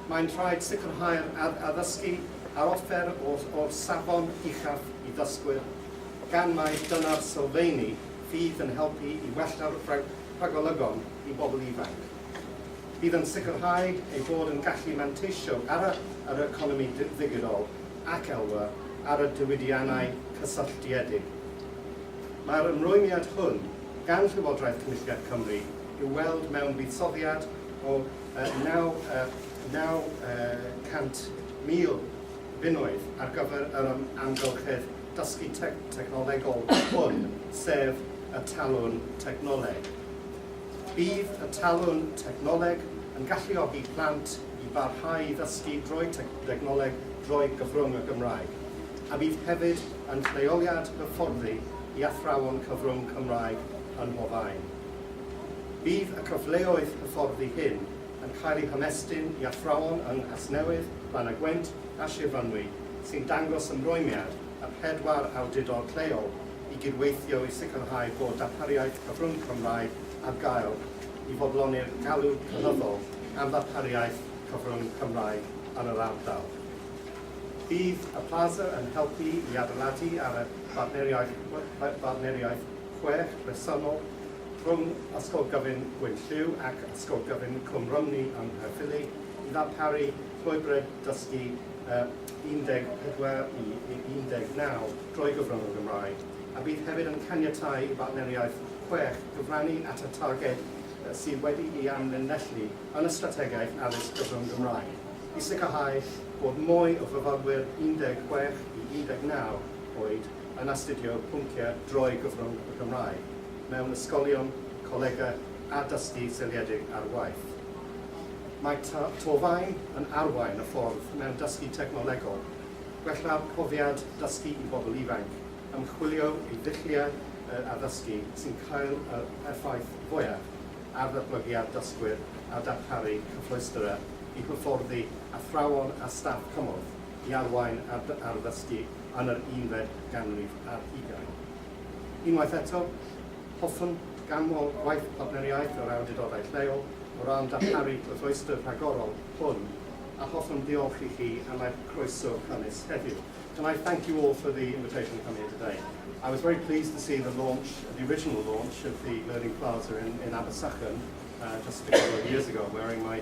Mae'n rhaid sicrhau'r addysgu a'r offer o'r safon uchaf i ddysgwyr, gan mai dyna'r sylfeini fydd yn helpu i wella'r rhagolygon i bobl ifanc. Bydd yn sicrhau ei bod yn gallu manteisio ar yr economi ddigidol ac elwa ar y diwydiannau cysylltiedig. Mae'r ymrwymiad hwn gan Llywodraeth Cynulliad Cymru i'w weld mewn buddsoddiad o 900,000 bunnoedd ar gyfer yr amgylchedd dysgu technolegol hwn, sef y talwrn technoleg. Bydd y talwrn technoleg yn galluogi plant i barhau i ddysgu drwy dechnoleg drwy gyfrwng y Gymraeg, a bydd hefyd yn lleoliad hyfforddi i athrawon cyfrwng Cymraeg ym mhob aen. Bydd y cyfleoedd hyfforddi hyn yn cael eu hymestyn i athrawon yng Nghasnewydd, Llanaguent a Shir Fynwy sy'n dangos ymrwymiad y pedwar awdurdod lleol i gydweithio i sicrhau bod darpariaeth cyfrwng Cymraeg ar gael i fodloni'r galw cynyddol am ddarpariaeth cyfrwng Cymraeg yn yr ardal. Bydd y plaza yn helpu i adeiladu ar y partneriaeth partneriaeth chwech bresennol rhwng Ysgol Gyfun Gwyn Lliw ac Ysgol Gyfun Cwm Rhymni yng Nghaerffili i ddarparu llwybrau dysgu 14 i 19 drwy gyfrwng y Gymraeg, a bydd hefyd yn caniatáu i bartneriaeth chwech gyfrannu at y targed sydd wedi'i amlinellu yn y Strategaeth Addysg Gyfrwng Gymraeg i sicrhau bod mwy o fyfyrwyr 16 i 19 oed yn astudio pynciau droi gyfrwng y Gymraeg mewn ysgolion, colegau a dysgu seiliedig ar waith. Mae Torfaen yn arwain y ffordd mewn dysgu technolegol, gwella'r profiad dysgu i bobl ifanc, ymchwilio i ddulliau addysgu sy'n cael yr effaith fwyaf ar ddatblygiad dysgwyr a darparu cyfleusterau i hyfforddi athrawon a staff cymorth. i arwain ar ddysgu yn yr unfed ganrif ar hugain. Unwaith eto, hoffwn ganmol gwaith partneriaeth yr awdurdodau lleol o ran darparu cyfleuster rhagorol hwn a hoffwn ddiolch i chi am eich croeso cynnes heddiw. Can I thank you all for the invitation to come here today. I was very pleased to see the launch, the original launch of the Learning Plaza in, in Abersachen uh, just a couple of years ago, wearing my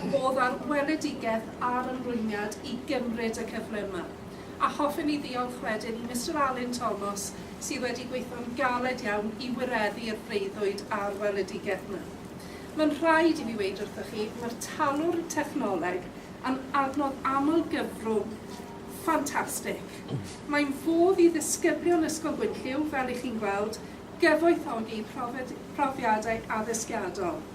fod ar weledigaeth a'r ymrwymiad i gymryd y cyfle yma, a hoffem i ddiolch wedyn i Mister Alun Tomos sydd wedi gweithio'n galed iawn i wireddu'r breuddwyd a'r weledigaeth yma. Mae'n rhaid i fi weud wrthoch chi, mae'r talwrn technoleg yn adnodd aml-gyfrwng ffantastig. Mae'n fodd i ddisgyblion Ysgol Gwynllyw, fel i chi'n gweld, gyfoethogi profiadau addysgiadol.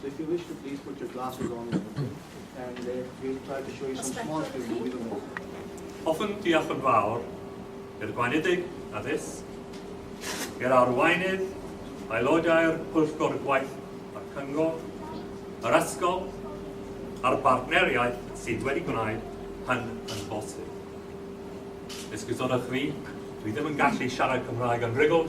So if you wish to please put your glasses on and everything, and uh, we'll try to show you some small screen movies on it. Hoffwn diolch yn fawr i'r Gweinedig Addysg, i'r arweinydd, aelodau'r Pwyllgor Gwaith a'r Cyngor, yr ysgol a'r bartneriaeth sydd wedi gwneud hyn yn bosib. Esgusodwch fi, dwi ddim yn gallu siarad Cymraeg yn rhugl,